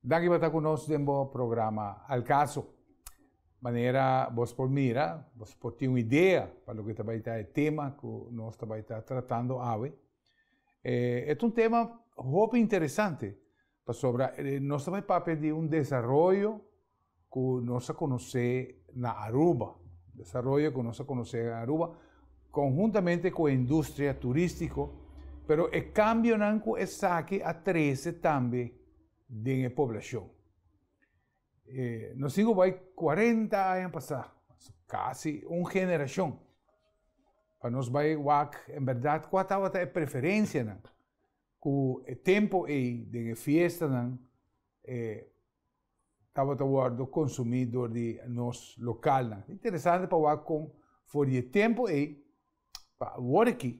Danki pa ta ku nos den bo programa Al Caso. Manera bos por mira, bos por tin un idea pa loke ta bai ta e tema ku nos ta bai ta tratando awe. E ta un tema hopi interesante, pasobra nos ta bai papia di un desaroyo, ku nos a konosé na Aruba, desaroyo ku nos a konosé na Aruba, konhuntamente ku e industria turístiko, pero e kambionan ku esaki a trese tambe den e poblashon. Nos tin ku bai kuarenta aña pasá, kasi un generashon, pa nos bai wak en bèrdat kua tabata e preferensianan ku e tempu ei den e fiestanan tabata wordo konsumí dor di nos lokalnan. Interesante pa wak kon for di e tempo ei, pa aworiki,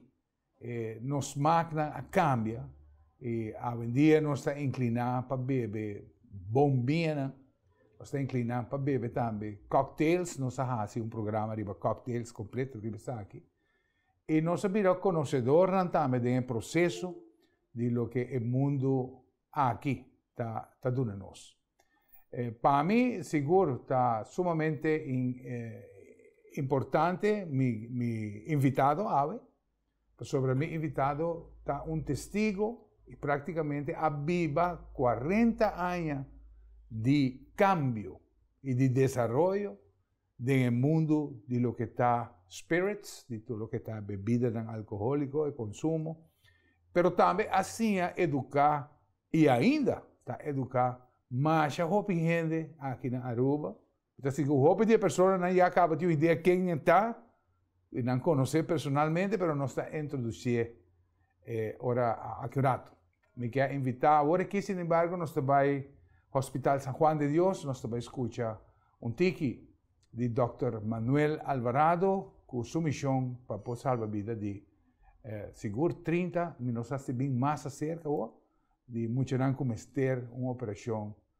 eh, nos smaaknan a kambia i awendia nos ta inkliná pa bebe bombianan, nos ta inkliná pa bebe tambe cocktails, nos a hasi un programa riba cocktails kompleto riba esaki, i nos a bira konosedornan tambe den e proseso di loke e mundu aki ta ta duna nos. E pa mi sigur ta sumamente importante mi mi invitado awe pasobra mi invitado ta un testigo y practicamente a biba cuarenta aña di cambio y di desaroyo den e mundu di loke ta spirits, di tur loke ta bebidanan alkoholiko, e konsumo, pero tambe a siña eduká i ainda ta eduká masha hopi hende aki na Aruba. Mi ta sigur hopi di e personanan ya kaba tin un idea kennan ta. Y nan conoce personalmente pero nos ta introducie e ora aki un rato. Mi kier invita awor aki sin embargo nos ta bay Hospital San Juan de Dios, nos ta bay scucha un tiki di Dokter Manuel Alvarado cu su mision pa por salba bida di sigur 30, mi no sa si bin mas acerca awor, di muchanan cu mester un operacion.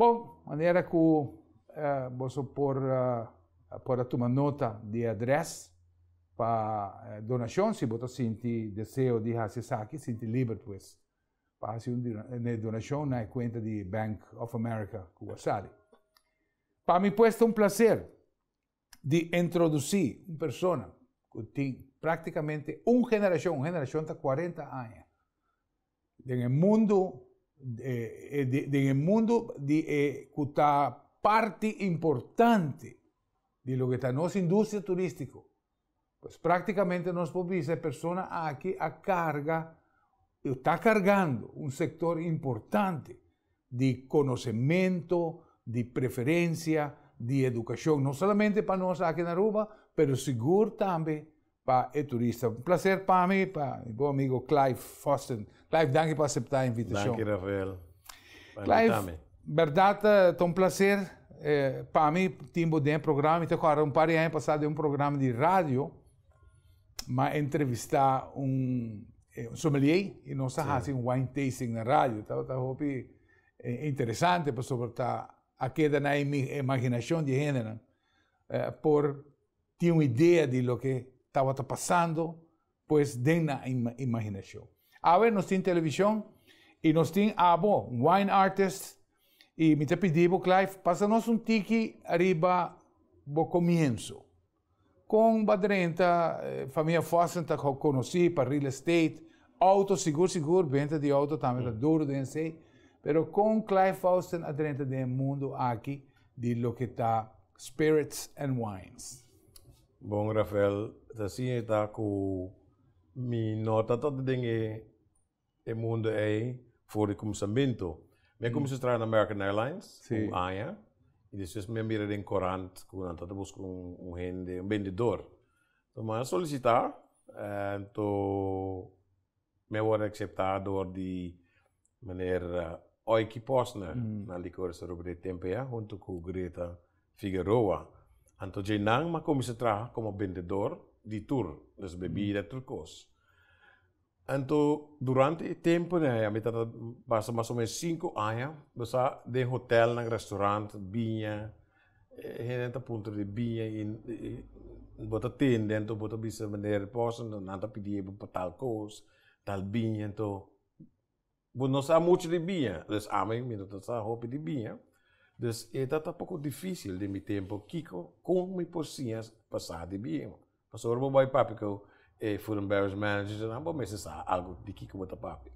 Bon, manera ku boso por por a tuma nota di e adrès pa donashon, si bo ta sinti deseo di hasi esaki, sinti liber pues pa hasi un e donashon na e kuenta di Bank of America ku bo a sabi. Pa mi pues ta un plaser. di introducí un persona cu tin prácticamente un generacion, un generacion ta 40 aña, den e mundo, eh, den e mundo di e cu ta parti importante di loke ta nos industria turístico. Pues prácticamente nos por bisa e persona aki a carga, o ta cargando un sector importante di conocemento, di preferencia, di educacion, no solamente pa nos aki na Aruba, pero sigur tambe pa e turista. Un placer pami pa bo amigo Clive Fossen. Clive, danki pa aseptá e invitashon. Danki Rafael pa invitami. Clive, bèrdat ta un plaser pa mi tin bo den e programa. Mi ta kòrda un par di aña pasá den un programa di radio m'a entrevistá un sommelier i nos a hasi un wine tasting na radio. Tabata hopi interesante pasobra ta a keda na e imaginashon di e hendenan por tin un idea di loke tabata pasando. pues den nan imaginashon. Awe nos tin televishon i nos tin abo, wine artist, i mi ta pidi bo Clive, pasa nos un tiki riba bo komienso. Kon bo a drenta Familia Fossen ta konosí pa real estate, outo sigur sigur, benta di outo tambe ta duru den esei, pero kon Clive Fossen a drenta den mundu aki di loke ta spirits and wines? Bon Rafael, ta así e ta cu mi no ta tabata den e e mundo ey for di cuminsamentu. Mi a cuminsa traha na American Airlines un aña y despues mi a mira den corant cu nan tabata busca un hende, un bendedor. Entonces mi a solicita, entonces. Mi a wòrdu akseptá dor di meneer Oiki Posner na Licores Aruba di e tempu ei huntu ku Greta Figueroa. Anto dje nan mi a kuminsá traha komo bendedor di tur nos bebida, tur kos. Anto durante e tempunan ei, a mi ta ta basa mas o menos sinku aña, mi sa den hotelnan, restorant, biña. E hende ta puntra di biña i bo ta tende anto bo ta bisa manera di pòs anto nan ta pidié bo pa tal kos, tal biña anto bo no sa muchu di biña pues amo mi no ta sa hopi di biña pues e ta ta poko dificil den mi tempo kiko, kon mi por siña pa sa di biña. Pasobra ora bo bai papia ku e food and beverage managers nan bo mester sa algu di kiko bo ta papia.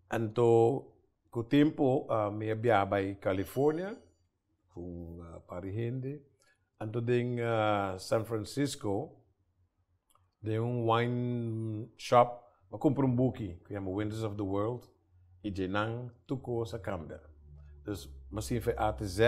Anto ku tempu mi a biaha bai california ku un par di hende, anto den san francisco den un wine shop a kumpra un buki ku yama winters of the world. y dje nan tur cos a cambia. Dus masin fe A te Z,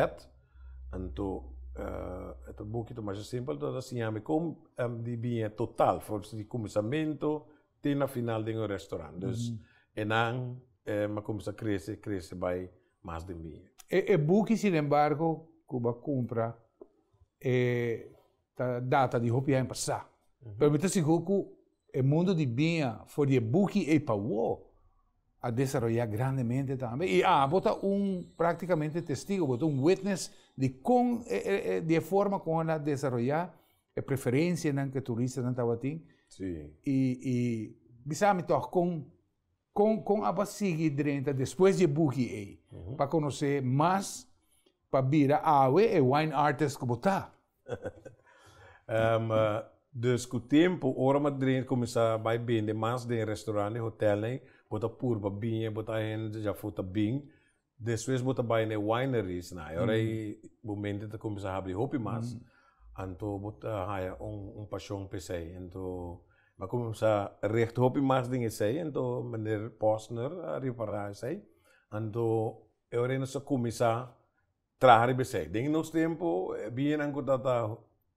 anto e ta buki ta masha simpel, anto ta siñami con di biña total for di cuminsamento te na final den un restaurant. Dus e nan a cuminsa crece, crece bay mas den biña. E buki sin embargo cu bo a cumpra e. ta data di hopi aña pasá. Pero mi ta sigur ku e mundu di biña for di e buki ei pa wou a desaroyá grandemente tambe. I abo ta un práktikamente testigo, bo ta un witness di kon di e forma kon el a desaroyá e preferensianan ku e turistanan tabatin i i bisa mi tòg kon. Kon kon a pa sigui drenta despues di e buki ei pa konosé mas pa bira awe e wine artist ku bo ta? Dus ku tempu ora bo a kuminsá bai bende mas den e restaurant, e hotelnan, bo ta purba biña, bo ta hende dja futa bin, Despues bo ta bai na e wineries nan, e ora ei bo mente ta cuminsa habri hopi mas, anto bo ta haya un pasion pa esey. Anto mi a cuminsa richt hopi mas den esey, anto Meneer Posner a ripara esey, anto e ora ei nos a cuminsa traha riba esey. Den nos tempo e biñanan cu ta ta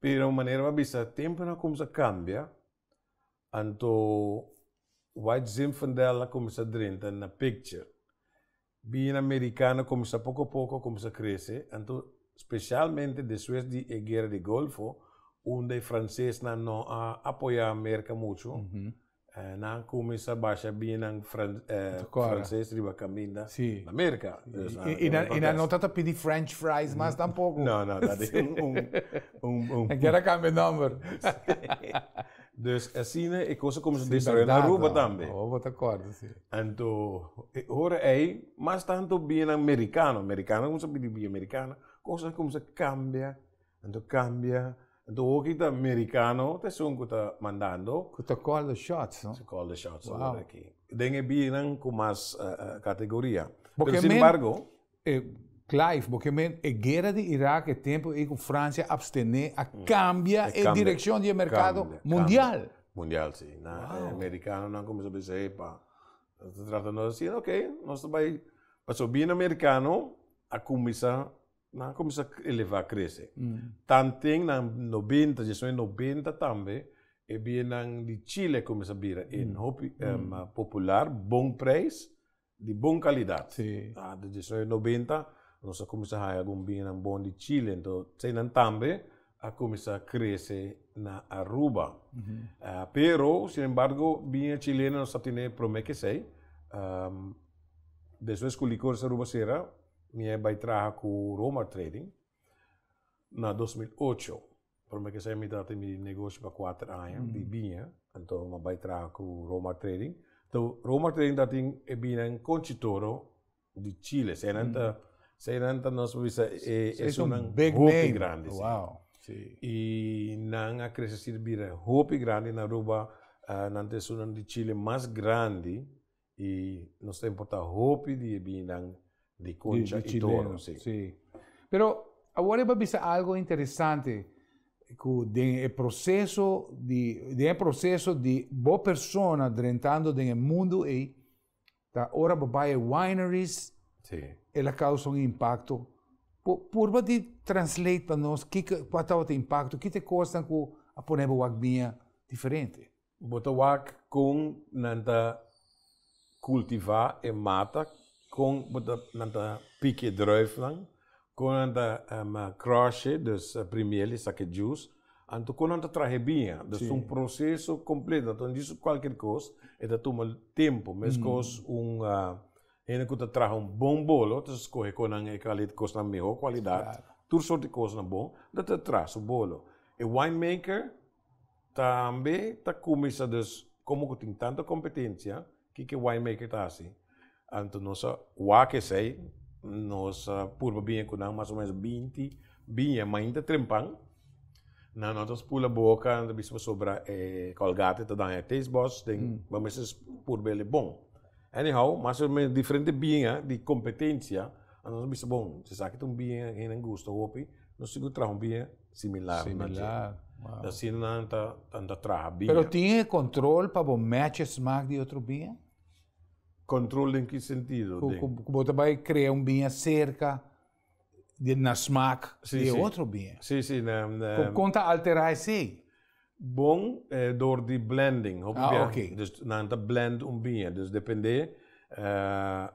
Pero manera bo a bisa, tempunan a kuminsá kambia, anto White Zinfandel a kuminsá drenta na pikcha. Bina Merikano a kuminsá poko poko a kuminsá krese, anto spesialmente despues di e Guera di Golfo, unda e fransesnan no a apoyá Merka muchu, Nan cuminsa basha binan frances riba caminda na America. Y nan no ta ta pidi french fries mas tampoco. No, no, ta di un. Nan kier a cambia nomber. Dus asina e cosa cuminsa desarrolla na Aruba tambe. Si, berdad. Awo bo ta corda, si. Anto e ora ey, mas tanto binan mericano, mericano cuminsa pidi bia mericana, cosnan cuminsa cambia, anto cambia. Enton hoki ta merikano ta esun ku ta mandando. Ku ta kòl di shots no. Kòl di shots ta wòrdu aki. Den e bianan ku mas kategoria. Pero sin embargo. Clive, bo ke men e guera di Irak e tempu ei ku Fransia apstené a kambia e direkshon di e merkado mundial. Mundial si. Na e merikanonan kuminsá bisa epa nos ta tratando asina, ok nos ta bai. Pasobra bia na merikano a kuminsá. Nan cuminsa eleva crece. Tanten na noventa, diciacion di noventa tambe e biennan di Chile cuminsa bira een hopi popular, bon prijs, di bon calidad. A den diciacion di noventa nos a cuminsa haya algun biennan bon di Chile, ento eseinan tambe a cuminsa crece na Aruba. Pero sin embargo bien Chileno nos a tene prome kesey, despues cu Licores Aruba cera, Mi a bai traha ku Romar Trading na dos mil ocho. Promé kes aña mi ta tin di negoshi pa kuater aña di biña. Anto mi a bai traha ku Romar Trading. Anto Romar Trading ta tin e biña en Conchitoro di Chile. Esei nan ta, esei nan ta nos por bisa e esunnan hopi grandi. Esei son big name. Si. I nan a krese así bira hopi grandi na Aruba. Nan ta esunnan di Chile mas grandi Y nos ta importa hopi di e binan di concha y toro. Si. Si. Pero awor e ba bisa algo interesante cu den e proceso di den e proceso di bo persona drentando den e mundo ey ta ora bo bay e wineries Si. el a causa un impacto. Bo purba di translate pa nos kico cua tabata e impacto? Ki ta e cosnan cu a pone bo wak bia diferente? Bo ta wak kon nan ta kultivá e mata, kon bo ta nan ta pik e drùifnan, kon nan ta kròsh'e, dus primiel'e, sak'e djus, anto kon nan ta trah'e biña. Dus ta un proseso kompleto, anto nan disi su kualker kos e ta tumal tempu. Meskos un hende ku ta traha un bon bolo ta skohe kon nan e kaliet kosnan mihó kualidat, tur sort di kosnan bon, lo ta traha su bolo. E winemaker. Tambe ta cuminsa dus como cu tin tanto competencia kiko winemaker ta haci anto nos a wak esey nos a purba biña cu nan mas o menos binti biña mainta trempan nan no ta spula boca nan ta bisa pasobra e colgate ta daña e taste buds den bo mester purba el e bon anyhow mas o menos diferente biña di competencia nos a bisa bon si esaki ta un biña a hende gusta hopi nos sigur traha un biña. similar na dje. Similar, wow. Ta asina nan ta, tan ta traha bia. Pero tin e control pa bo match e smaak di otro bia? Control den ki sentido? Cu, cu, cu bo ta bai crea un bia cerca di, na smaak Sí, di e sí. otro bia. Sí, sí, na, na, Con, con ta altera esey? bon eh, door di blending, hopi Ah, bia. oké. Dus nan ta blend un bia, dus depende eh,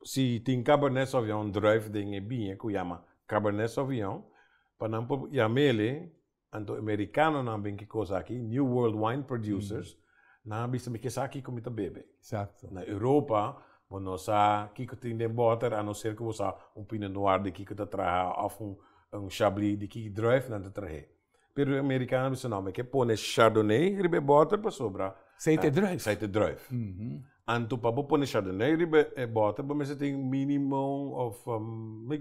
Si tin Cabernet Sauvignon druif den e biña ku yama Cabernet Sauvignon, pa nan por yam'el'e, anto e merikanonan bin kikos aki, New World Wine Producers, nan a bisa mi ke sa kiko mi ta bebe. Na Europa bo no sa kiko tin den bòter a no ser ku bo sa un Pinot Noir di kiko ta traha òf un Chablis di ki druif nan ta trah'é. Pero e amerikano a bisa, no, mi ke pone Chardonnay riba e bòter pasobra. Sei ta e druif. Sei ta e druif. Anto pa bo pone Chardonnay riba e bòter bo mester tin minimum of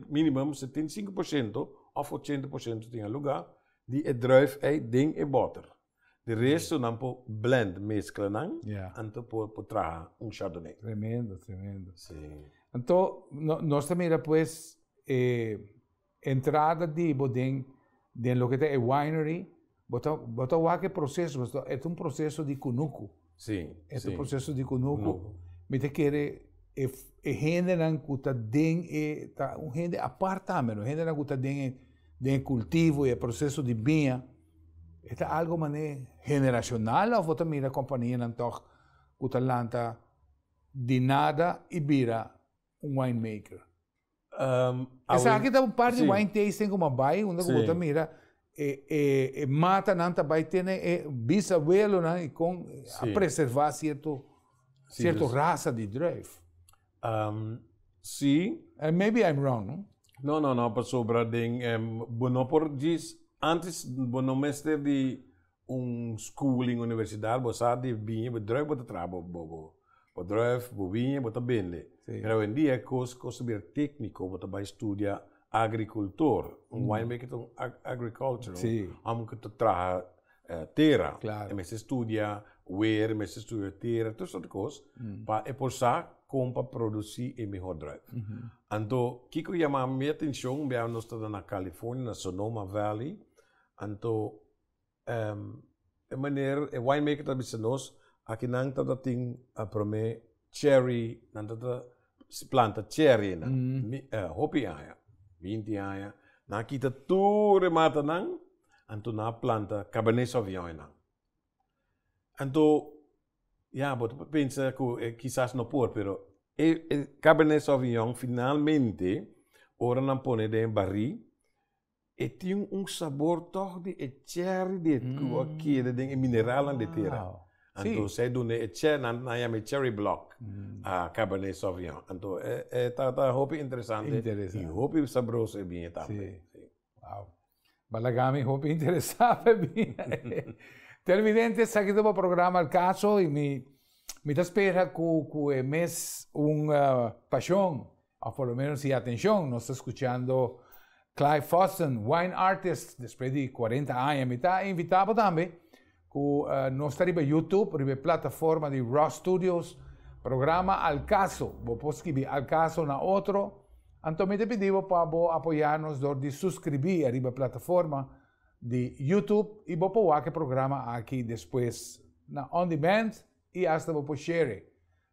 minimum setenta i sinku por shento of ochenta por shento tin a lugá di e druif ei den e bòter. Di resto nan por blend, mezkla nan, anto por por traha un Chardonnay. Tremendo, tremendo. Sí. Anto, no, nos ta mira pues e. Entrada di bo den den loke ta e winery bo ta bo ta wak e proceso bo ta et un proceso di kunuku si et un proceso di kunuku mi ta kere e e hendenan ku ta den e ta un hende apart tambe no hendenan ku ta den e den e kultivo e proceso di biña e ta algo mane generacional of bo ta mira kompanianan tog ku ta lanta di nada i bira un winemaker. Um, Esaki ta un par di wine tasting como bai, unda como ta mira, e, e, e mata nan ta bai tiene e bisabuelo nan y con a preserva cierto, cierto dus, raza di druif. Um, sí. And maybe I'm wrong, no? No, no, no, pasobra den, um, bo no por gis, antes bo no mester di un schooling universidad bo sa di biña bo drùk bo ta traha bo bo bo bo drùf bo biña bo ta bende pero awendia e kos kos ta bira tekniko bo ta bai studia agrikultor un weinberg ta un agrikultur un hòmber ku ta traha tera e mester studia wer e mester studia tera tur sòrt kos pa e por sa kon pa produsi e mihor drùf anto kiko yama mi atenshon biaha nos ta na California na Sonoma Valley anto. e maner e winemaker ta bisa nos, aki nan ta ta tin a prome cherry, nan ta ta planta cherrynan. Mi hopi aña, binti aña, nan a kita tur e matanan, anto nan a planta cabernet sauvignon. Anto, ya, bo ta pensa ku e kisas no por, pero e cabernet sauvignon finalmente ora nan pone den e bari, E tin un sabor tòg di e cherry di ku a keda den e mineralan di e tera. Anto esei duna e nan a yama e cherry block a cabernet sauvignon. Anto e ta ta hopi interesante i hopi sabroso e biña tambe. Si. Wow. Balagami hopi interesá pa e biña. Televidente, esaki ta bo programa El Caso i mi mi ta spera ku ku e mes un pashon Of por lo menos si atencion, nos ta scuchando Clyde Foston, wine artist, despues di 40 aña. Mi ta invitabo tambe cu uh, nos ta riba YouTube, riba plataforma di Raw Studios, programa Al Caso. Bo por scribi Al Caso na otro. Anto mi ta pidibo pa bo apoyanos door di suscribi riba plataforma di YouTube y bo por wak e programa aki despues na on demand y hasta bo por share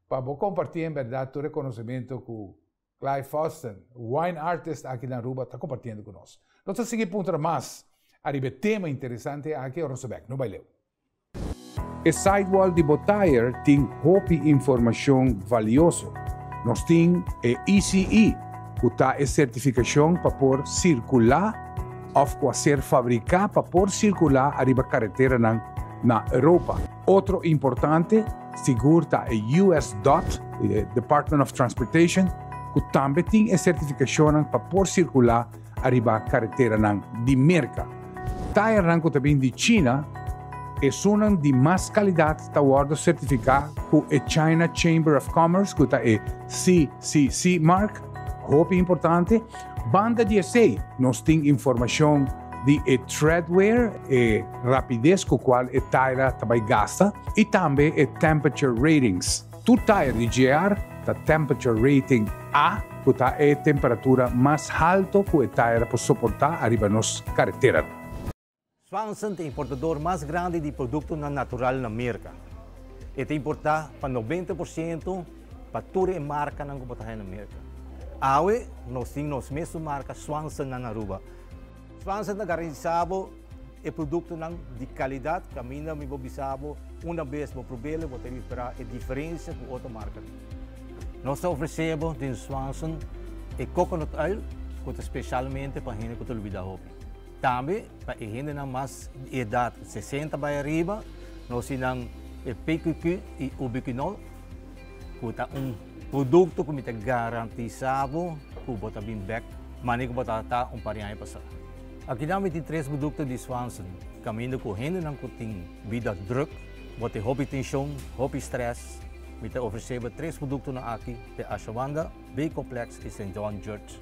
Pa bo comparti en berdad tur reconocimento cu Clive Fosten, wine artist aki na Aruba ta compartiendo cu nos. Nos ta sigui puntra mas ariba e tema interesante aki ora nos ta bek. No bai leu. E sidewall di bo tire tin hopi informacion valioso. Nos tin e ECE, cu ta e certificacion pa por circula of cu a ser fabrica pa por circula ariba carreteranan na Europa. Otro importante sigur ta e US. dot, Department of Transportation, ku tambe tin e sertifikashonnan pa por sirkulá ariba kareteranan di Merka. Tairnan ku ta bin di China, esunnan di mas kalidat ta wòrdu sertifiká ku e China Chamber of Commerce, ku ta e CCC mark, hopi importante, Banda di esei, nos tin informashon di e treadwear, e rapides ku kual e taira ta bai gasta, i tambe e temperature ratings. Tur tair di JR ta temperature rating A, ku ta e temperatura mas halto ku e taira por soportá ariba nos karetera. Swanson ta importador mas grandi di produktonan natural na Merka. E ta importá pa noventa por siento pa tur e markanan ku por ta haya na Merka. Awe nos tin nos mesun marka Swanson na na Aruba. Swanson ta garantisá bo e produktonan di kalidat kaminda mi bo bisa bo unda bes bo prob'el bo ta repará e diferensia ku otro markanan. Nos ta ofresé bo den Swanson e coconut oil ku ta spesialmente pa hende ku ta olbidá hopi. Tambe pa e hendenan mas di edat sesenta bai ariba, no osinan e PQQ i Ubiquinol, ku ta un produkto ku mi ta garantisá bo ku bo ta bin bèk manera ku bo tabata ta un par di aña pasá. Akinan mi tin tres produkto di Swanson, kaminda ku hendenan ku tin bida drùk, bo tin hopi tenshon, hopi strès, mi ta ofresé bo tres produktonan aki te Ashawanda, B-Complex i St. John Judge.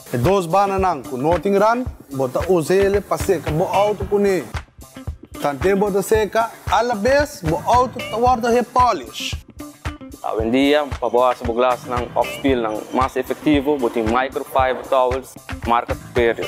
E dos bananan cu no tin ran, bo ta us'ele pa seca bo auto cuné. Tanté bo ta seca alabes, bo auto ta wordo he polish. Awendia, pa bo haci bo glasnan of spielnan mas efectivo, bo tin microfiber towels marca Superior.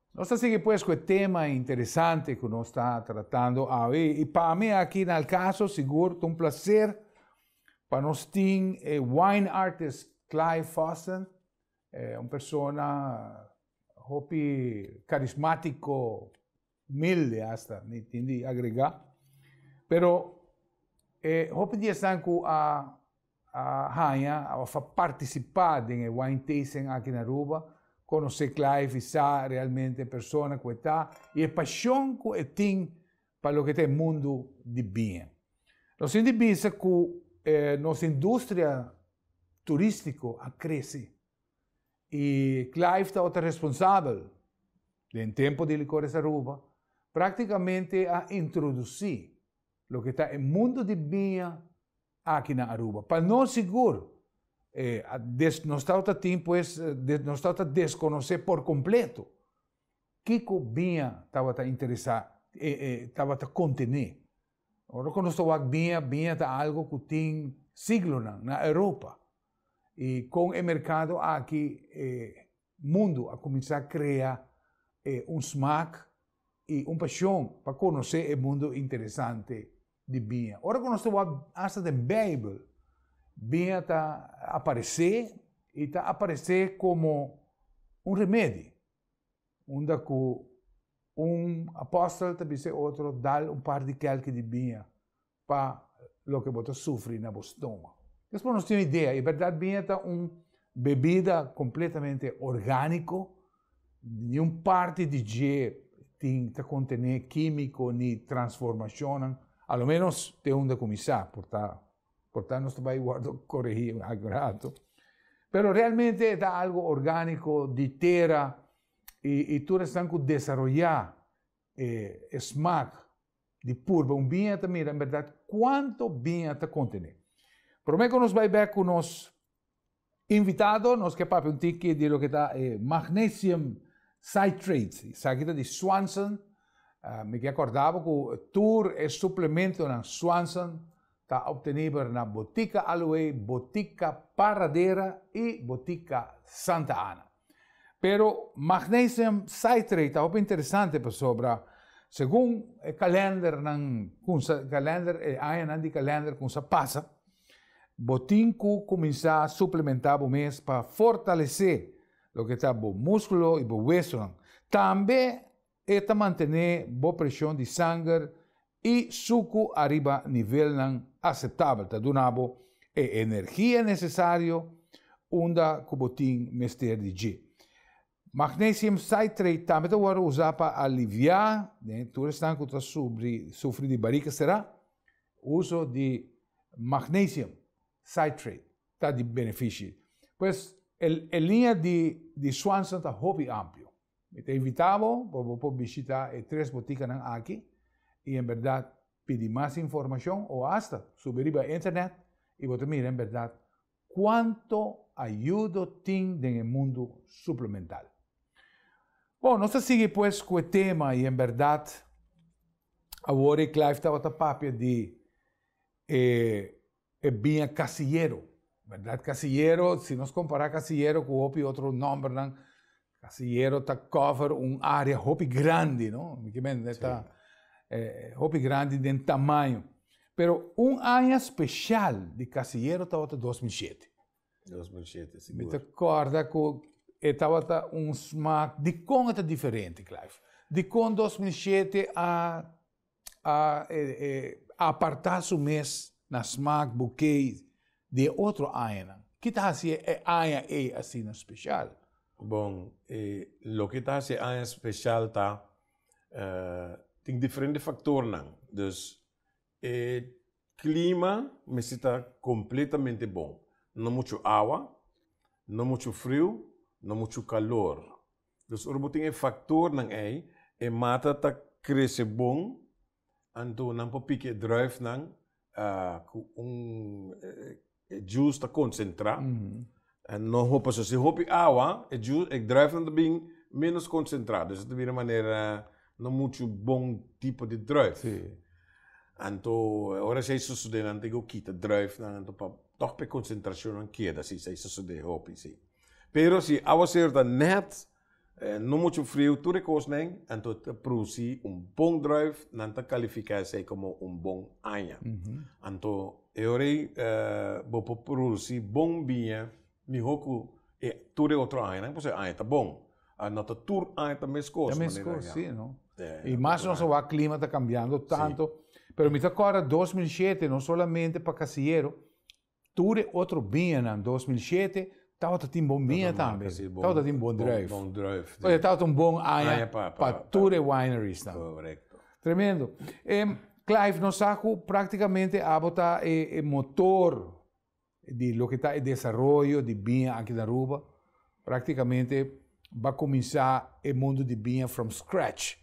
Nos ta sigui pues cu e tema interesante cu nos ta tratando awe. Y pa mi aki na El Caso sigur ta un placer pa nos tin e wine artist Clive Fossen, eh, un persona hopi carismatico, humilde hasta, mi tin di agrega. Pero eh, hopi di esnan cu a a haña òf a partisipá den e wine tasting aki na Aruba, konosé kla i visá realmente e persona ku e ta i e pashon ku e tin pa loke ta e mundu di biña. Nos tin di bisa ku nos industria turístiko a krese i Clive ta otro responsabel den tempu di Licores Aruba, práktikamente a introdusí loke ta e mundu di biña, Aki na Aruba. Pa nos sigur, nos tabata tin pues, nos tabata desconoce por completo kico biña tabata interesa, tabata contene. Ora cu nos ta wak biña, biña ta algo cu tin siglonan na Europa. Y con e mercado aki, Mundu a kuminsá krea e un smak i un pashon pa konosé e mundu interesante di biña. Ora ku nos ta wak asta den Beibel, biña ta aparesé i ta aparesé komo un remedi. Unda ku un apòstel ta bisa e otro, Dal un par di kèlke di biña pa loke bo ta sufri na bo stoma. Despues nos tin idea, e berdad biña ta un bebida completamente orgánico, niun parti di dje tin ta contené químico ni transformacionnan, a lo menos te un ta cuminsá, por ta por ta nos ta bai wordo corregí algun rato. Pero realmente e ta algo orgánico di tera y y tur esnan cu desaroyá E, e smak di purba un biña ta mira en bèrdat kuantu biña ta kontené. Promé ku nos bai bèk ku nos invitado, nos ke papia un tiki di loke ta e magnesium citrate, esaki ta di Swanson. Mi ke akorda bo ku tur e suplementonan Swanson ta opteniber na Botika Aloe, Botika Paradera i Botika Santa Ana. Pero magnesium citrate ta hopi interesante pasobra segun e kalendernan kun sa kalender e añanan di kalender kon sa pasa bo tin ku kuminsá suplementá bo mes pa fortalesé loke ta bo muskulo i bo wesonan. Tambe E ta mantené bo preshon di sanger i suku ariba nivelnan aseptabel. Ta duna bo e energia nesesario unda ku bo tin mester di dje. Magnesium citrate tambe ta wòrdu usá pa aliviá den tur esnan ku ta sufri di barika será. Uso di magnesium citrate ta di benefishi. Pues, e liña di Swanson ta hopi amplio. Mi ta invitá bo pa bo por bishitá e tres botikanan aki i en bèrdat pidi mas informashon o asta subi riba internet i bo ta mira en bèrdat kuantu ayudo tin den e mundu suplemental. Bon, nos ta sigui pues ku e tema i en bèrdat awor e Clive tabata papia di e e biña Casillero, berdad? Casillero, si nos compara Casillero cu hopi otro nombernan, Casillero ta cover un area hopi grandi, no? Mi kimen, sí. ta eh, hopi grandi den tamaño. Pero un aña special di Casillero tabata 2007. 2007, sí. Mi ta corda cu e tabata un smaak di con e ta diferente, Clive. Di con 2007 a a apartá su mes na smak bukei di e otro añanan? Ki ta hasi e aña ei asina speshal? Bon, loke ta hasi e aña speshal ta, tin diferente faktornan. Dus, e klima mester ta kompletamente bon. No muchu awa, no muchu friu, no muchu kalor. Los ora bo tin e factornan ey, e mata ta crece bon, anto nan por pique e druifnan cu un e juice ta concentra, no hopi aso. Si hopi awa e juice, e druifnan ta bin menos concentra, dus ta bira manera no mucho bon tipo di druif. Anto e ora esey sosode nan tin cu kita druifnan anto pa toch pa e concentracionnan keda si esey sosode hopi si. Pero si awa ser ta nèt, no muchu friu, tur e kosnan, anto ta produsí un bon drùif, nan ta kalifiká esei komo un bon aña. Anto e ora ei bo por produsí bon biña mihó ku e tur e otro añanan, pasobra e aña ta bon. A no ta tur aña ta mes kos manera nan ya. Ta mes kos, si, no. I mas nos awor klima ta kambiando tantu. Pero mi ta kòrda dos mil shete, no solamente pa Kasieru, Tur e otro biñanan dos mil shete tabata tin bon biña tambe, tabata tin bon druif. Bon druif. Oye, tabata un bon aña pa tur e wineries nan. Korekto. Tremendo. Clive, nos sa ku praktikamente abo ta e motor di loke ta e desaroyo di biña aki na Aruba. Práktikamente ba kuminsá e mundu di biña from scratch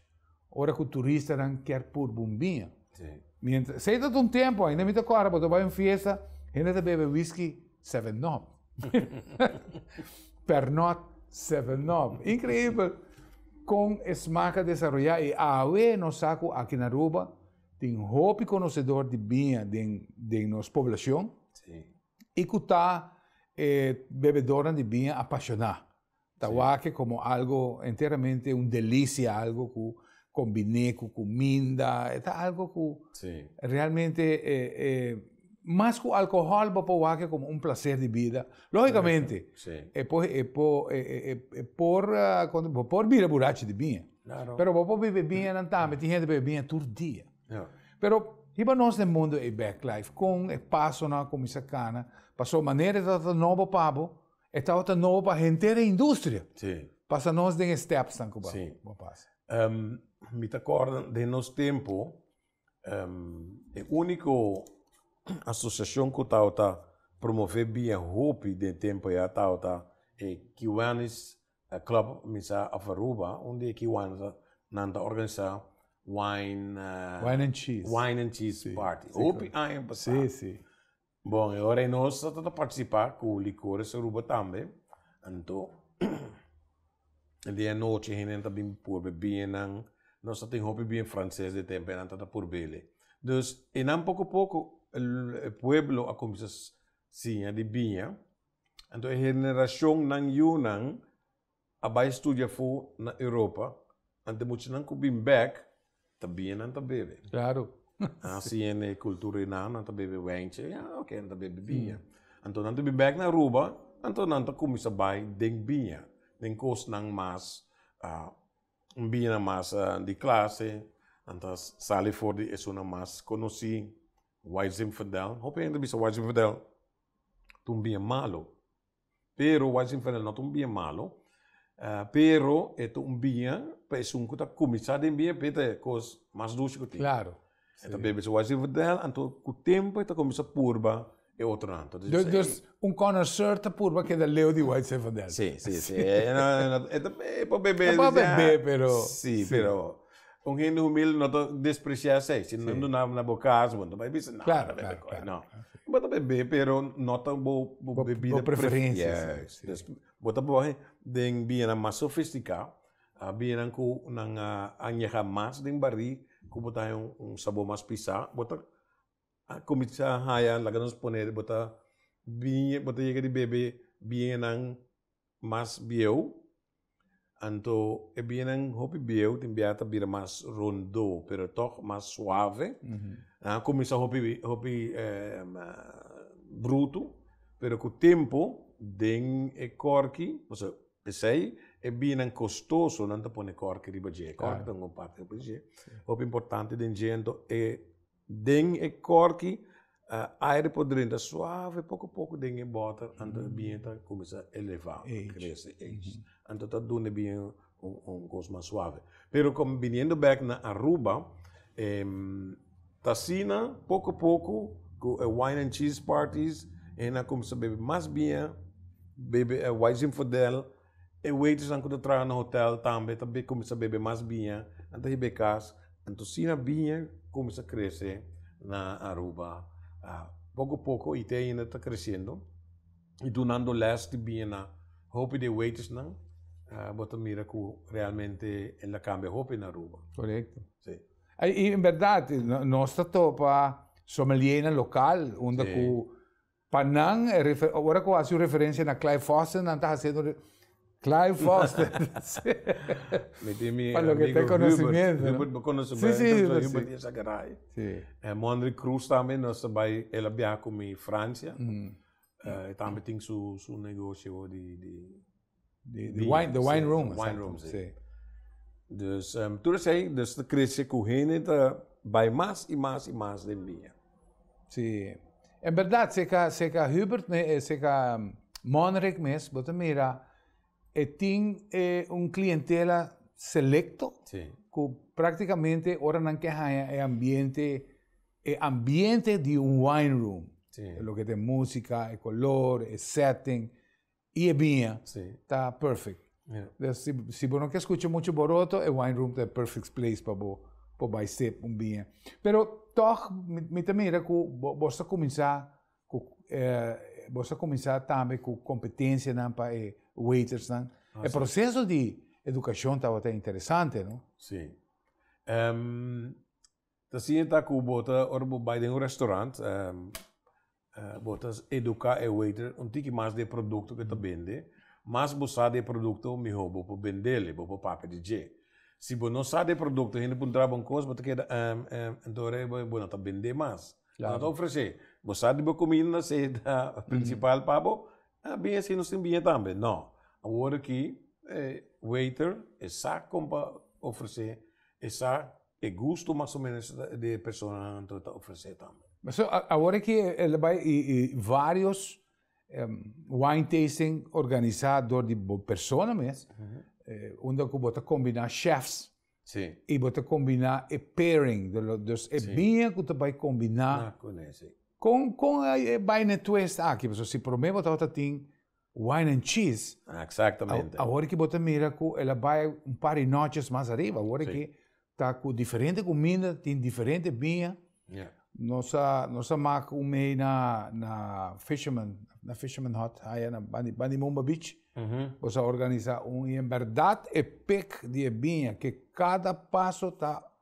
ora ku turistanan kier purba un biña. Miéntras, sei ta un tempu ainda, mi ta kòrda bo ta bai un fiesta, hende ta bebe whisky seven up. Pernod seven up. Inkreibel kon e smak a desaroyá i awe nos sa ku aki na Aruba tin hopi konosedor di biña den den nos poblashon. I ku ta e bebedornan di biña apashoná? Ta wak komo algu enteramente un delisia, algu ku kombiné ku kuminda. E ta algu ku realmente e mas ku alkohòl bo por wak komo un plaser di bida. Lógikamente, e por e por bo por bira burachi di biña, pero bo por bebe biñanan tambe. Tin hende bebe biña tur dia. Ja. Pero hiba nos den mundo ei bek, Clive, kon e pasonan a kuminsá kana, paso manera e tabata nobo pa bo, e tabata nobo pa henter e industria. Si. Pasa nos den e stèpsnan ku bo a bo a pasa. Si. Mi ta kòrda den nos tempu, e úniko asosiashon ku tabata promové bien hopi den tempu ei a tabata e Kiwènis. E club Misa of Aruba un di e ki wanta nan ta organisa wine Wine and cheese Wine and cheese party si hopi aña pasa si si bon e ora nos ta ta participa cu Licores Aruba tambe anto e dia anochi hende ta bin por be bie nan nos ta tin hopi bie frances di tempo e nan ta ta por bele dus e nan poco poco e pueblo a cuminsa siña di bia. Anto e henerashonnan yunan a bai studia fu na Europa, anto muchanan ku bin bèk ta bini nan ta bebe. Klaro. Nan a siña nan e kultura di nan, nan ta bebe wènchi, a oke nan ta bebe biña. Anto nan ta bin bèk na Aruba, anto nan ta kuminsá bai den biña, den kosnan mas un biñanan mas di klase, nan ta sali for di esunnan mas konosí, Wise Zinfandel, hopi hende a bisa Wise Zinfandel ta un bien malo. Pero wak si fernel no ta un bien malo pero e ta un bien pa esun ku ta kuminsá den bien p'e ta e kos mas dushi ku tin. Klaro. E ta bebe su wak si fernel anto ku tempu e ta kuminsá purba e otronan. Dus un konosor ta purba keda leu di wak si fernel. Si si si e ta bebe pero si pero. Un hende humilde no ta despreciá esei. Si nan duna na bo cas, bo no ta bai bisa, no, no ta bebe koe, no. Bo ta bebe, pero no ta bo bebida preferencia. Yes. Bo ta bohe den bianan mas sofisticá, bianan cu nan a añeha mas den barí, cu bo ta haña un sabor mas pisá. Bo ta cuminsá haya, laga nos pone, bo ta yega di bebe bianan mas bieu, anto e bianan hopi bieu tin bia ta bira mas rondo pero tog mas suave, a cuminsa hopi hopi brutu pero cu tempo den e corki pasobra pesey e bianan costoso nan ta pone corki riba dje, corki ta un bon parti hopi importante den dje anto e. Den e kòrki, aire por drenta suave poko poko den e bòter anto e biña ta kuminsá elevá, krese, age. Anto ta duna e biña un kos mas suave. Pero kon biniendo bèk na Aruba, ta asina poko poko ku e wine and cheese parties, hende a kuminsá bebe mas biña, bebe e wai zinfodel, E waitressnan ku ta traha na hotel tambe ta kuminsá bebe mas biña anto hib'é kas. Anto asina biña kuminsá krese na Aruba. Poko poko i te ainda ta kresiendo i dunando lès di biña na hopi di e waitressnan. Bo ta mira ku realmente el a kambia hopi na Aruba. Korekto. Sí. I en bèrdat, nos ta topa sommeliénan lokal unda ku. Pa nan, ora ku hasi un referensia na Clive Foster, nan ta hasiendo un Clive Foster. Mi tin mi amigo Hubert. Hubert bo konosé bai. Si, si, Hubert. Hubert di Sakerai. Si. E Mondrick Cruz tambe, nos ta bai, el a biaha ku mi Fransia. E tambe tin su negoshio di. Di, di wine, the wine room. Wine room, sí. Dus, um, tur esei, dus ta crece cu hende ta bai mas y mas y mas den biña. Sí. En verdad, seca, seca Hubert, me, eh, seca Monreg mes, bo ta mira, e tin e un clientela selecto. Sí. Cu practicamente ora nan ke haya e ambiente, e ambiente di un wine room. Sí. Lo que te música, e color, e setting. Y e biña ta perfect. Des si bo no ke skucha muchu boroto, e wine room ta e perfect place pa bo por bai sip un biña. Pero tog mi ta mira ku bo bo sa kuminsá ku bo sa kuminsá tambe ku kompetensianan pa e waitersnan. E proseso di edukashon tabata interesante, no? Si. Ta siña ta ku bo ta ora bo bai den un restaurant bo ta eduká e waiter un tiki mas di e produkto ku e ta bende. Mas bo sa di e produkto mihó bo por bendel i bo por papia di dje. Si bo no sa di e produkto hende puntra bo un kos bo ta keda ehm ehm enton ora bo no ta bendé mas. Bo no ta ofresé. Bo sa di bo kuminda si e ta prinsipal pa bo a bin e si nos tin biña tambe. No. Awor aki e waiter e sa kon pa ofresé e sa e gusto mas o menos di e personanan ta ta ofresé tambe. So awor aki el a bai y y varios wine tasting organisa dor di bo persona mes unda cu bo ta combina chefs y bo ta combina e pairing dus e biña cu ta bai combina con con e bai na e twist aki pasobra si prome bo tabata tin. Wine and Cheese. Exactamente. Awor ki bo ta mira cu el a bay un par di noches mas ariba, awor ki ta cu diferente cuminda, tin diferente biña. Yeah. Nos a, nos a mak un mei na, na Fisherman, na Fisherman Hut, haya na bandi, bandi Mumba Beach. Mm -hmm. Nos a organisa un, y en verdad e pick di e biña, que cada paso ta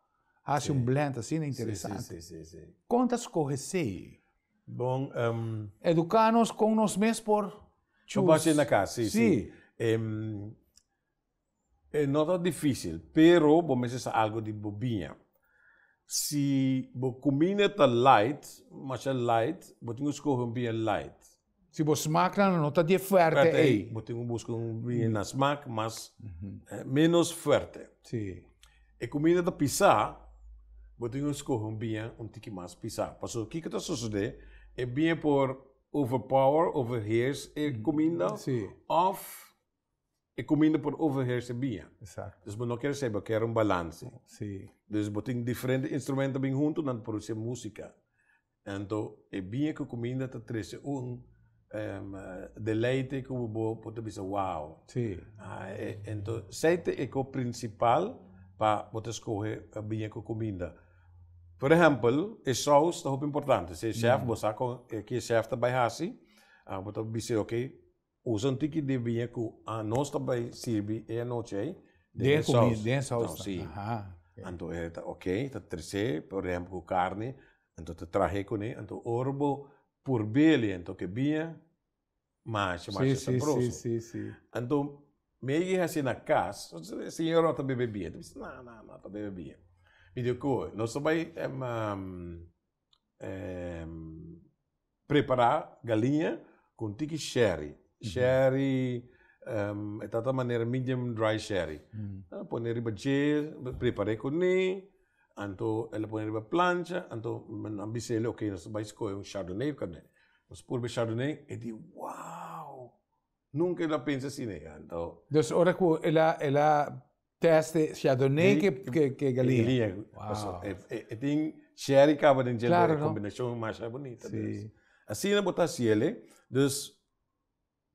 hace sí. un blend así na interesante. Sí, sí, sí, sí, sí. Conta scoge sei? Bon, ehm. Eduká nos kon nos mes por chus. Por bas'é na kas, sí, sí. Ehm, e no ta difísil, pero bo mester sa algu di bo biña. Si bo kumina ta light, masha light, bo tin ku skohe un biña light. Si bo smaak nan no ta di e fuerte ei. Bo tin ku buska un bini na smaak mas menos fuerte. Si. E kumida ta pisá, bo tin ku skohe un biña un tiki mas pisá. Pasobra kiko ta sosodé? E biña por overpower, overheerse, e kuminda òf e kuminda por overheersen bia. Exacto. Dus bo no kere seiba, kere un balanse. Si. Dus bo tin diferente instrumento bin huntu nan ta produsé músika. Anto e bia ku kuminda ta trese un deleite ku bo por ta bisa wow. Si. Anto esei ta e kos prinsipal pa bo ta skohe bia ku kuminda. Por ehèmpel, e sous ta hopi importante. Si e shèf, bo sa kon e ki e shèf ta bai hasi, bo ta bis'é, oké, Usan tin ki di biña ku anos ta bai sirbi e anochi ei den e sous. Den e sous ta. Anto e ta ok, ta tres'é por ehempel ku karni, anto ta trah'é kuné, anto ora bo purb'é anto ke biña masha masha sabroso. Anto mi ei hasi na kas, señora bo ta bebe biña? Mi bisa na na na ta bebe biña. Mi di oke, nos ta bai prepará galiña ku un tiki shèri. Shèri e ta ta manera medium dry shèri. Lo pone riba dje, lo prepar'é kuné, anto e lo pone riba plancha, anto nan bis'é lo ke nos ta bai skohe un chardonnay òf kab'nèt. Nos purba e chardonnay e di wow! Nunca el a pensa asina ya, anto. Dus ora cu el a, el a teste chardonnay cu, cu, cu galinha. Galinha. Pasobra Wow. e, e, e tin sherry caba den dje, Claro, e no. combinacion masha bunita Si. dus. Asina bo ta haci el'e, dus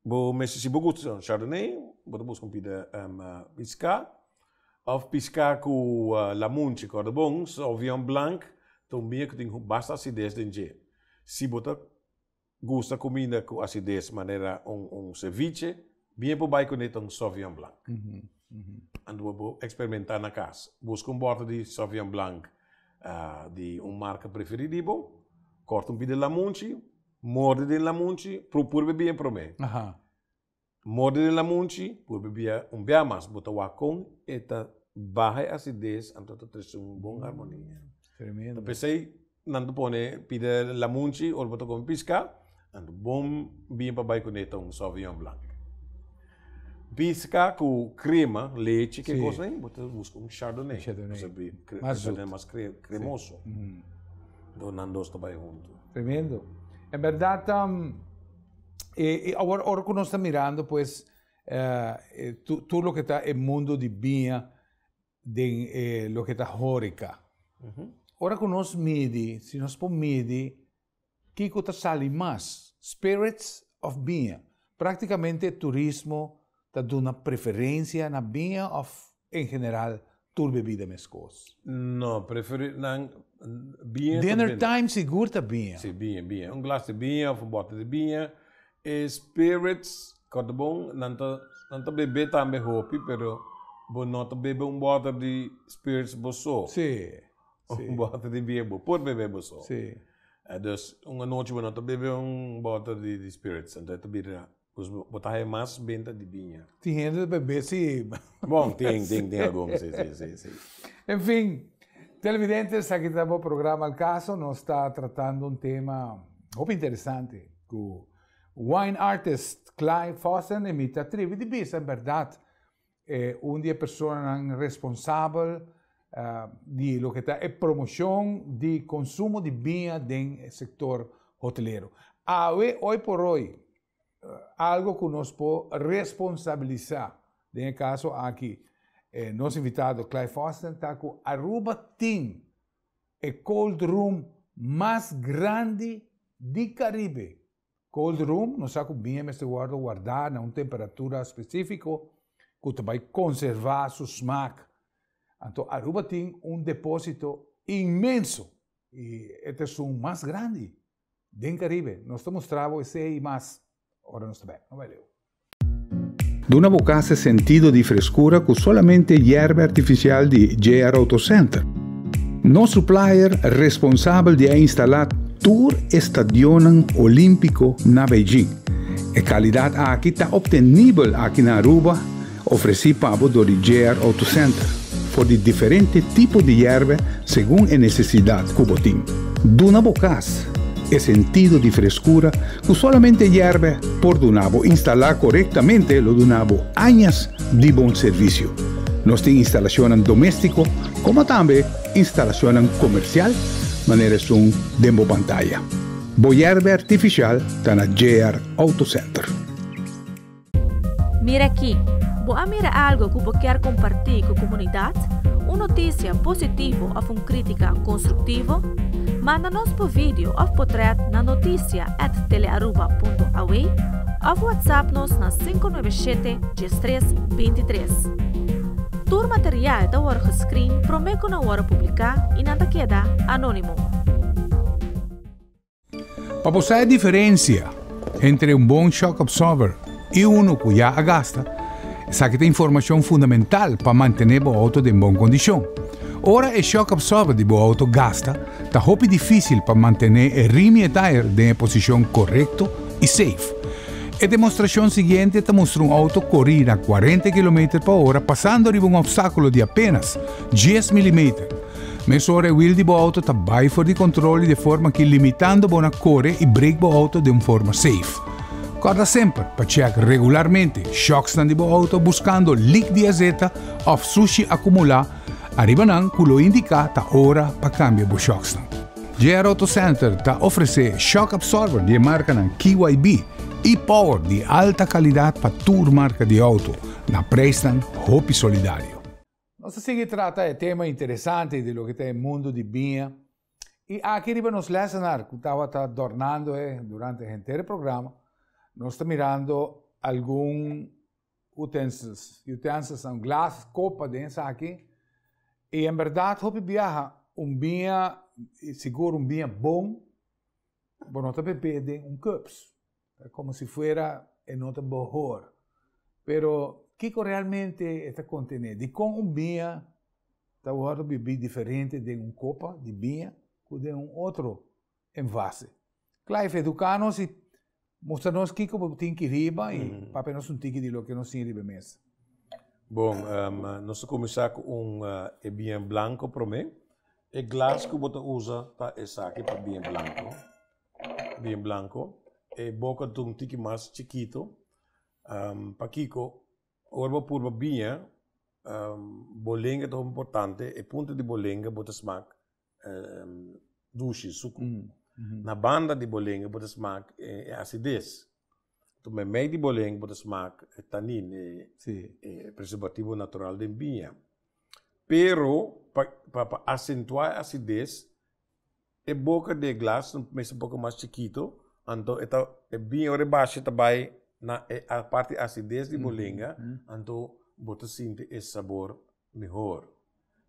bo mester, si bo gusta sa un chardonnay, bo ta busca un pida pisca, of pisca cu lamunchi, cordobon, sauvignon blanc, ta un bia cu tin basta acidez den dje. Si bo ta Gusta cuminda cu acidez manera un ceviche, bien por bay cun'e ta un Sauvignon Blanc. Anto bo por experimenta na cas. Busca un bottle di Sauvignon Blanc di un marca preferi di bo, corta un pidi lamunchi, morde den lamunchi, procura bay bien prome. Morde den lamunchi, por bibia un bia mas, bo ta wak kon e ta baha e asides anto ta trese un bon armonia. Tremendo. Ta p'esei nan ta pone pida lamunchi ora bo ta kome piska, anto bon bini pa bai kuné ta un soviñon blank. Piska ku krema, lechi, ke kos nei, bo ta buska un shardone, pasobra shardone mas kremoso. Nan dos ta bai huntu. Tremendo. En bèrdat. E, e awor ora ku nos ta mirando pues eh, e, tu, tur lo ke ta e mundo di biña den e, lo ke ta horika. Ora ku nos midi, si nos por midi kiko ta sali mas, spirits of biña. Praktikamente turismo ta duna preferencia na biña of en general tur bebida meskos? No, preferir nan biña. Dinner time sigur ta biña. Si biña biña. Un glas di biña of un bottle di biña. E spirits kort bon nan ta nan ta bebe tambe hopi pero bo no ta bebe un bottle di spirits bo so. Si si. Un bottle di biña bo por bebe bo so. Si. Eh, dus un anochi bo no ta bebe un bottle di di spirits entonces ta bira Pues bo ta haya mas benta di biña. Tin hende ta bebé si. Bon, tin, tin, tin algun, si, si, si, si. En fin, televidente, esaki ta bo programa El Caso. Nos ta tratando un tema hopi interesante cu wine artist Clyde Fossen y mi ta tribi di bisa en berdad e un di e personanan responsabel di loke ta e promoshon di konsumo di biña den e sektor hotelero. Awe oi por oi algo ku nos por responsabilisá, den e kaso aki e nos invitado Clive Austin ta ku Aruba tin e cold room mas grandi di Karibe Cold room nos sa cu bia mester wordo warda na un temperatura specifico cu ta bay conserva su smaak. Anto Aruba tin un deposito inmenso y e ta esun mas grandi den Caribe. Nos ta mustra bo esey y mas ora nos ta bek. No bay leu. Duna bo casa e sentido di frescura cu solamente yerba artificial di JR Auto Center. Nos supplier responsabel di a instala tur e stadionnan Olimpico na Beijing. E calidad aki ta obtenibel aki na Aruba, ofreci pa bo door di JR Auto Center, for di diferente tipo di yerba segun e necesidad cu bo tin. Duna bo casa e sentido di frescura Cu solamente yerbe por duna bo instala corectamente lo duna bo añas di bon servicio. Nos tin instalacionnan domestico como tambe instalacionnan comercial manera esun den bo pantaya. Bo yerbe artificial ta na JR Auto Center. Mira aki! Bo a mira algo ku bo kier kompartí ku komunidat? Un notisia positivo òf un krítika konstruktivo? Manda nos bo video òf potrèt na notisia at telearuba.aw òf whatsapp nos na sinku nuebe shete dies tres binti tres. Tur material ta wòrdu geskrin promé ku nan wòrdu publiká i nan ta keda anónimo. Pa bo sa e diferensia entre un bon shock absorber i unu ku ya a gasta, esaki ta informashon fundamental pa mantené bo outo den bon kondishon. Ora e shock absorber di bo outo gasta, ta hopi difísil pa mantené e rim i e tire den e posishon korekto i seif. E demostrashon siguiente ta mustra un outo kori na kuarenta kilometer pa ora pasando riba un opstákulo di apénas dies milimeter, Mes ora e wiel di bo auto ta bai for di control y de forma ki limitando bo na core y brake bo auto den forma safe. Corda semper pa check regularmente shocksnan di bo auto buscando leak di azeta of sushi acumula ariba nan cu lo indica ta ora pa cambia bo shocksnan. JR Auto Center ta ofrece shock absorber di e marcanan KYB y power di alta calidad pa tur marca di auto na prijsnan hopi solidario. Nos ta sigui trata e tema interesante di loke ta e mundu di biña, i aki riba nos lèsenar ku tabata dòrnando e durante henter e programa, nos ta mirando algun utensils, utensils, un glas, kopa, den esaki, i en bèrdat hopi biaha un biña, i sigur un biña bon, bo no ta beb'é den un cups, Ta komo si fuera e no ta bohor. Pero kiko realmente e ta kontené? Dikon un biña ta wòrdu bibí diferente den un kopa di biña ku den un otro envase? Clive eduká nos i mustra nos kiko bo tin ki riba i papia nos un tiki di loke nos tin riba e mesa. Bon, nos ta kuminsá ku un e biña blanko promé. E glas ku bo ta usa pa esaki, pa biña blanko. bien blanco, e boca ta un tiki mas chikito, pakiko ora bo purba biña bo lenga ta hopi importante, e punta di bo lenga bo ta smak dushi, suku, na banda di bo lenga bo ta smak e asides, tum e mei di bo lenga bo ta smak e tanin, e preservativo natural den biña, pero pa acentua e asides E boka di e glas lo mester un poco mas chikito, anto e ta e bini ora e basha e ta bay na e parti acidez di bo lenga, anto bo ta sinti e sabor mihor.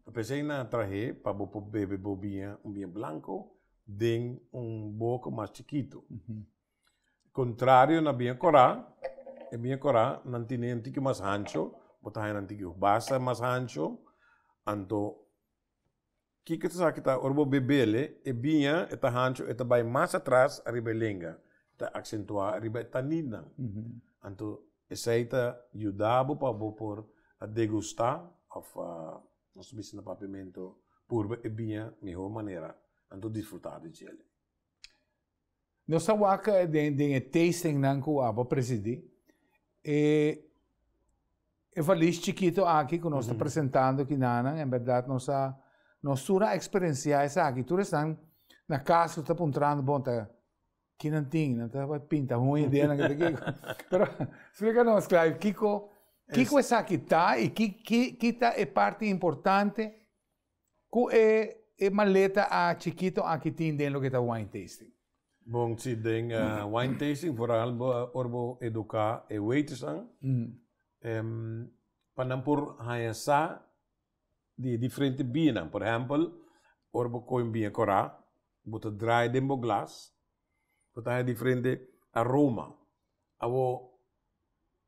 Ta p'esey nan a trahe pa bo por bebe bo biña, un biña blanco den un boka mas chikito. Contrario na biña cora, e biña cora nan tine un tiki mas hancho, bo ta haña nan tiki basha mas hancho, anto Kiko ta sa ki ta ora bo bebele e biña e ta hancho e ta bai mas atras ariba e lenga, e ta aksentuá ariba e taninnan. Anto esei ta yuda bo pa bo por a degustá òf nos bisa na Papiamento purba e biña mihó manera, anto disfrutá di djele. Nos a waka den den e tastingnan ku a por presidí. E e valis chikito aki ku nos ta presentando ki nanan en bèrdat nos a nos tur a eksperensiá esaki. Tur esnan na kas lo ta puntrando, bon ta ki nan tin? Nan ta pinta hun ideanan kende kiko. Pero splika nos kla kiko kiko esaki ta i ki ki ki ta e parti importante? Cu e e maleta a chikito aki tin den loke ta wine tasting? Bon, si den wine tasting vooral bo ora bo educa e waitersnan pa nan por haña sa di e diferente bienan. Por ehempel, ora bo coge un bie cora, bo ta draai den bo glas Bo ta haña diferente aroma. Awor,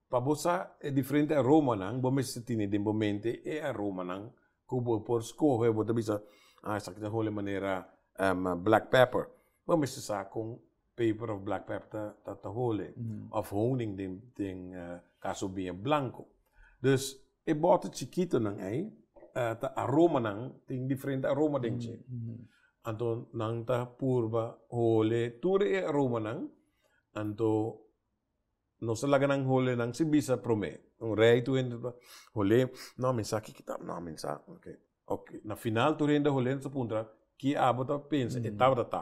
pa bo sa e diferente aromanan, bo mester tene den bo mente e aromanan ku bo por skohe, bo ta bisa, ah esaki ta holi manera black pepper, bo mester sa kon peper òf black pepper ta ta holi, òf honing den den kaso biña blanko. Dus. E bòte chikitonan ei ta aromanan, tin diferente aroma den dje. Anto nan ta purba hole tur e aromanan, anto nos ta laga nan hole nan sin bisa promé. Un rei tur hende ta hol'é, nò mi sa kiko ta, nò mi sa. Ok, na final tur hende a hol'é, nos ta puntra, ki abo ta pensa e tabata ta?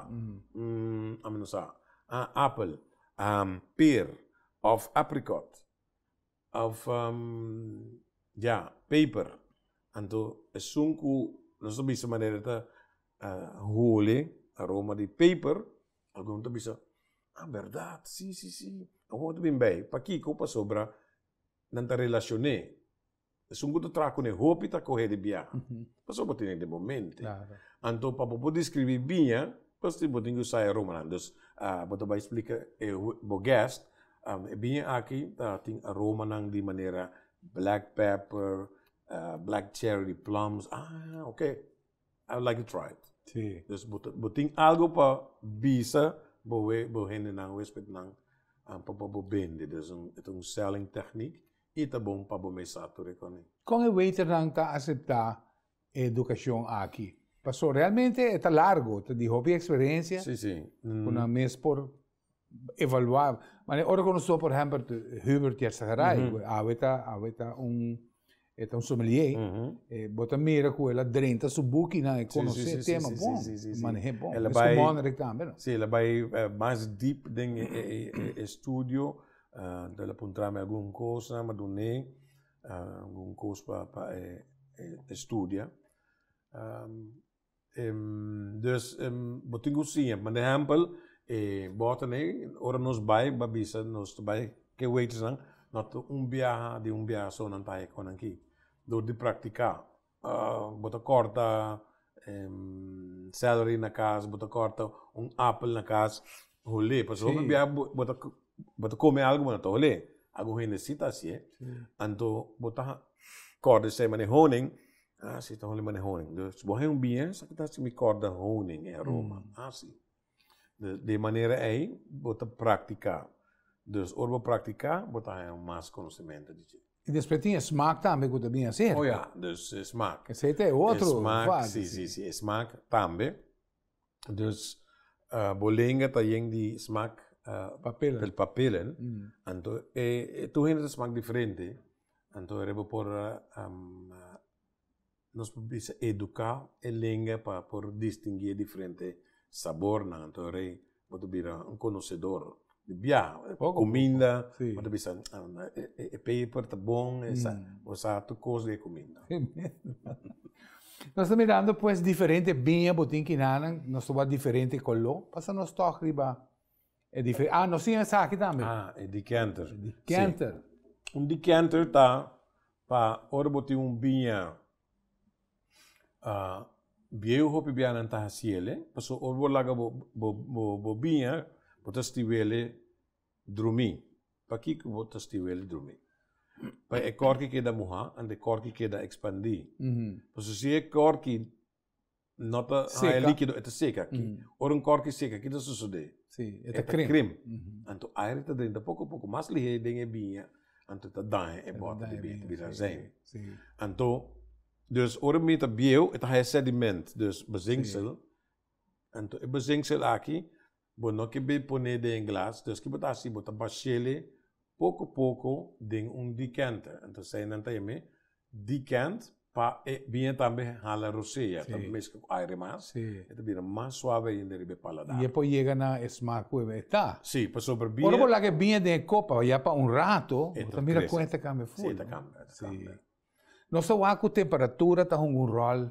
ami no sa. Ah, apel, per òf aprikòt. Of ya, paper. Anto esun ku nos ta bisa manera ta hole aroma di paper, algun ta bisa, a bèrdat, si, si, si, algun ta bin bai. Pakiko? Pasobra nan ta relashoné. Esun ku ta traha kuné hopi ta kohe di biaha, pasobra bo tene den bo mente. Anto pa bo por deskribí biña. Pues tin bo tin ki usa e romanan dus bo ta bai splika e bo guest e biña aki ta tin romanan di manera black pepper black cherry plums ah ok i would like to try it dus bo tin algu pa bisa bo we bo hendenan bo huespednan pa bo bende dus ta un selling technique i ta bon pa bo mesa tur e kon e. Kon e waiternan ta asepta e educacion aki. Paso realmente e ta largo, ta di hopi experiencia. Si, si. Mm. Una mes por evalua. Mane ora con nosotros, por ejemplo, Hubert Jerzageray, mm -hmm. awe ta, awe ta un, e ta un sommelier, mm -hmm. e, bota mira cu ela drenta su buki na e conoce si, si, si, tema si, bon, si, si, si, maneje bon. Ela es como Monrek también. No? Si, ela vai uh, mas deep den e, e, e, e studio, uh, ela puntrame algun cosa, ma dune. algun cos pa pa e e studia dus bo tin cu siña manda ehempel e bota ne ora nos bay ba bisa nos ta bay ke waitress nan no ta un biaha di un biaha so nan ta haña cu nan ki dor di practica. bo ta kòrta celery na kas bo ta kòrta un apel na kas hol'é pasobra hopi bia bo ta kome algu bo no ta hol'é algun hende si ta hasié anto bo ta kòrda esei manera honing a si ta holi manera honing dus bo hen un biens a mi kòrda honing en Roma a si. Dje manera ei bo ta praktiká. Dus ora bo praktiká bo ta haña mas konosementu di dje. I despues tin e smak tambe ku ta bini aserka. O ya, dus e smak. Esei ta e otro fas. E smak, si, si, si, e smak tambe. Dus bo lenga ta yen di smak. Papelen. Di papelen. Anto e tur hende ta smak diferente, anto e bo por. Nos por bisa eduká e lenga pa por distinguí e diferente sabornan. Anto rei bo ta bira un konosedor di bia. Kuminda, bo ta bisa, e peper ta bon, e sa, bo sa tur kos di e kuminda. Nos ta mirando pues diferente biña, bo tin kinanan nos ta wak diferente koló, pasa nos tòg riba. E dife ah nos tin esaki tambe. Ah, e decanter. E decanter. Sí. Un decanter ta pa ora bo tin un biña uh, bieu hopi bianan ta haciele, paso ora bo laga bo, bo, bo, bo biña, bo ta stiwele drumi. Pakiko bo ta stiwele drumi? Pa e kòrki keda muhá, anto e kòrki keda ekspandí. Mm -hmm. Paso si e kòrki No ta haya líkido, e ta seka aki. Ora un kòrki seka, ki ta sosodé? E ta krim. Anto aire ta drenta poko a poko mas lihé den e biña, anto e ta daña e bòta di biña, e ta bira azèn. Anto, dus ora e biña ta bieu, e ta haya sediment, dus bazenksel. Anto e bazenksel aki Bo no ke be poné den glas, dus ke bo ta hasi bo ta bashele poko poko den un decanter. Entosei nan ta yam'é decant pa e biña tambe hala rosé, ya ta meska ku aire mas, e ta bira mas suave ainda riba e paladar. E por yega na e smak ku e ta. Sí, pasobra biña. Ora bo laga e biña den e kopa ya pa un rato, bo ta mira kon e ta kambia ful. Sí, e ta kambia, e ta kambia. Nos ta wak ku temperatura ta hunga un ròl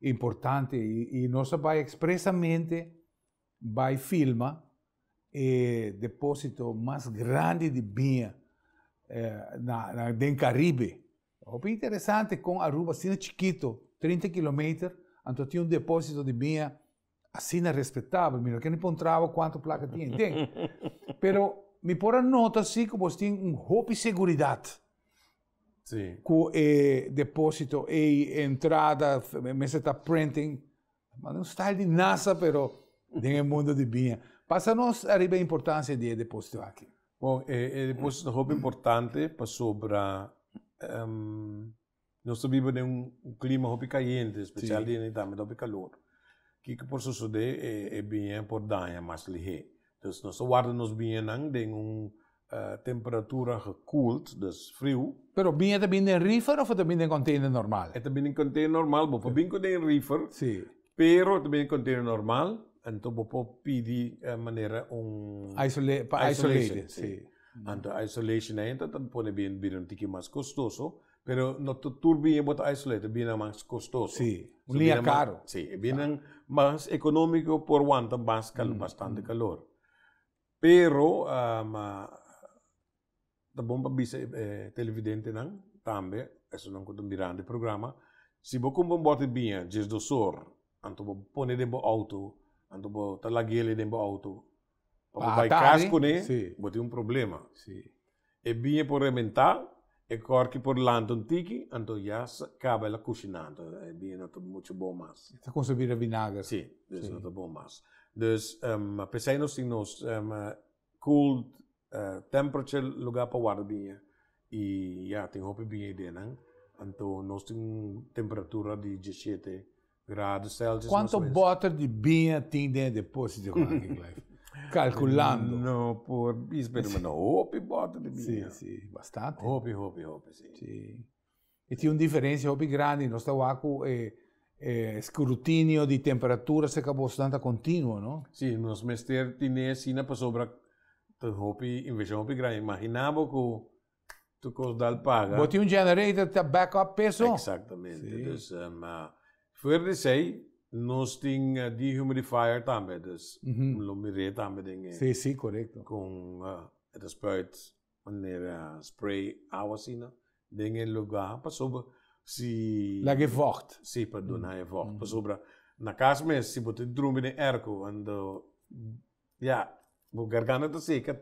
importante, i nos ta bai ekspresamente Bai filma e deposito mas grandi di biña den Caribe. Hopi interesante con Aruba asina chikito, trinta kilometer, anto tin un deposito di biña asina respetabel. Mi no ken pon traba cuanto placa tin den. Pero mi por a nota si cu bos tin un hopi seguridad cu e deposito ey, e entrada, mester ta printing. Manda un style di NASA pero den e mundo di biña. Pasa nos ariba e importancia di e deposito aki. Bon, e e deposito ta hopi importante pasobra nos ta biba den un clima hopi cayente, especial di e tambe ta hopi calor. Kico por sucede? E biña por daña mas lihé. Dus nos ta warda nos biñenan den un temperatura gekoeld, dus friu. Pero biñe ta bin den reefer of e ta bin den container normal? E ta bin den container normal. Bo por bin cu den reefer, pero e ta bin den container normal. Anto bo por pidi manera un isolation. Anto e isolation ei anto ta pone biñe bira un tiki mas costoso. Pero no ta tur biña bo ta isolated, biñanan mas kostoso. Sí, un liña karo. Sí, e biñanan mas ekonómiko por wanta mas kalor, bastante kalor. Pero ta bon pa bisa e televidentenan tambe, esnan ku ta mirando e programa, si bo kumpra un bòte biña djesdosor, anto bo pone den bo outo, anto bo ta laguele den bo outo, Pa bo bai cas cune bo tin un problema. E biña por rementa, e corki por lanta un tiki, anto ya caba el a cushina anto e biña no ta mucho bon mas. Ta cusa bira vinager. Si, dus no ta bon mas. Dus pesai nos tin nos cool temperature lugar pa warda biña y ya tin hopi biña ideanan anto nos tin un temperatura di diesshete. Grado Celsius. Cuanto boter di biña tin den deposito van aquí, Clive? Calculando. No por is, pero sí. no hopi boter di biña. Sí, sí, bastante. Hopi, hopi, hopi, sí. Sí. E tin un diferencia hopi grandi. Nos ta waku eh, eh, scrutinio di temperatura se ka boso tanta continuo, no? Sí, nos mester tine sina pasobra ta hopi, inversión hopi grandi. Imaginabo ku tu cos dal paga. Bo tin un generator ta back up peso. Exactamente. Sí. Dus um, uh, fuera di sei, nos tin uh, dehumidifier tambe, dus mm -hmm. lo miré tambe den e. Sí, sí, correcto. Con uh, het spuit manera uh, spray agua sina den e lugar pasobra si la ge vocht. Sí, pa dona mm -hmm. e vocht. Mm -hmm. Pasobra na cas mes si bo te drumbi den erco and uh, ja, bo garganta ta seca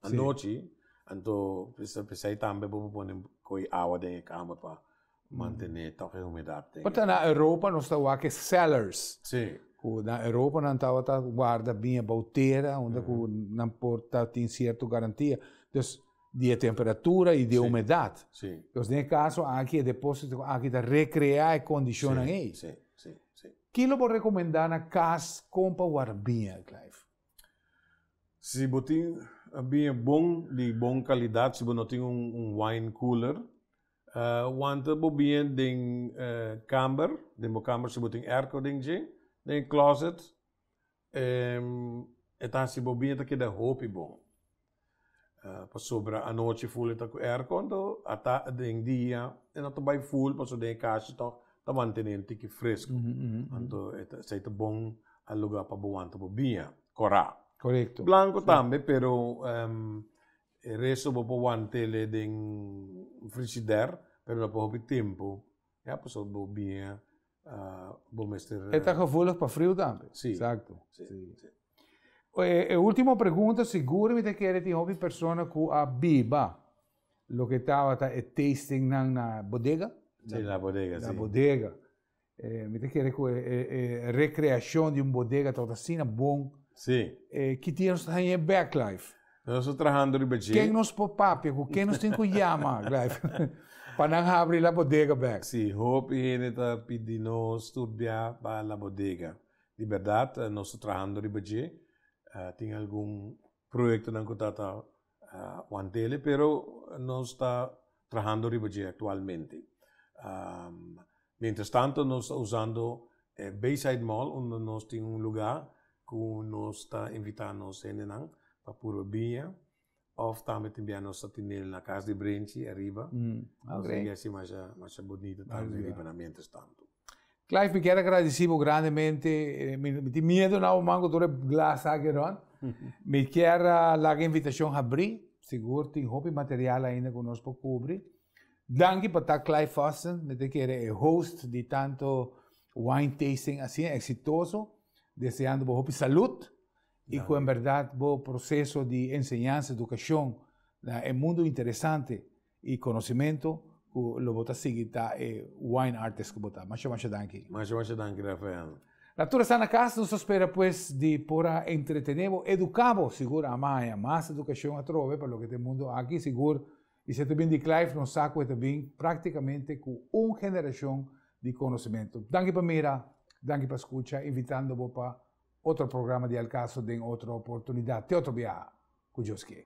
Anochi, anto prisa prisa y tambe bo por pone coy awa den e kamer pa mantene e toque humedad den. Pasobra na Europa nos ta wak e cellars. Si. Cu na Europa nan tawata guarda bin abao tera unda cu nan por ta tin cierto garantia. Dus, di e temperatura y di e humedad. Si. Dus den e caso aki e deposito aki ta recrea e condicionnan ey. Si, si, si. Ki lo bo recomenda na cas con pa warda bin, Clive? Si bo tin biña bon di bon kalidat, si bo no tin un wine cooler, wanta bo biña den kamber, den bo kamber si bo tin airco den dje, den e closet, e ta hasi bo biña ta keda hopi bon. Pasobra anochi ful e ta ku aircon to a ta den dia e no ta bai ful paso den e kashi tok ta mantené un tiki fresku. Anto esei ta bon a luga pa bo wanta bo bia kora. Blanku tambe pero e resto bo por want'el e den frigider pero no pa hopi tempu ya paso bo bia. E ta gevoelig pa friu tambe. Sí. Exacto. Sí. sí. E, e último pregunta, seguro mi te kere tin hopi persona ku a biba lo ke tabata e tasting nan na bodega. Sí, na bodega, Na sí. bodega. Eh, mi te kere ku e, e, e recreacion di un bodega tabata sina bon. Sí. Eh, ki tin nos haña backlife? Nos ta trahando riba dje. Ken nos por papia cu ken nos tin cu yama pa nan habri la bodega bek. Si, hopi hende ta pidi nos sturbia pa la bodega. Di berdad nos ta trahando riba dje. Tin algun proyectonan cu ta ta wantele pero nos ta. trahando riba dje aktualmente. Mientras tanto nos ta usando e Bayside Mall unda nos tin un lugá ku nos ta invitá nos hendenan pa purba biña òf tambe tin bia nos ta tenel na Kas di Brinchi ariba. Nos ta hasi e masha masha bunito tambe riba nan mientras tanto. Clive mi kier agradeci bo grandemente mi tin miedo na awor man cu tur e glas aki rond mi kier a laga e invitacion habri sigur tin hopi material ainda cu nos por cubri danki pa ta Clive Fosson mi ta kere e host di tanto wine tasting asin exitoso deseando bo hopi salud y cu en berdad bo proceso di enseñansa educacion na e mundo interesante. E conocimento cu lo bo ta sigui ta e wine artist cu bo ta. Masha masha danki. Masha masha danki Rafael. La tur a sta na cas, nos ta spera pues di por a entretene bo, educa bo, sigur a maya mas educacion atrobe pa loke ta e mundo aki, sigur y si e ta bin di Clive nos sa cu e ta bin practicamente cu un generacion di conocimento. Danki pa mira, danki pa scucha, invitando bo pa otro programa di Al Caso den otro oportunidad, te otro biaha cu Dios kier.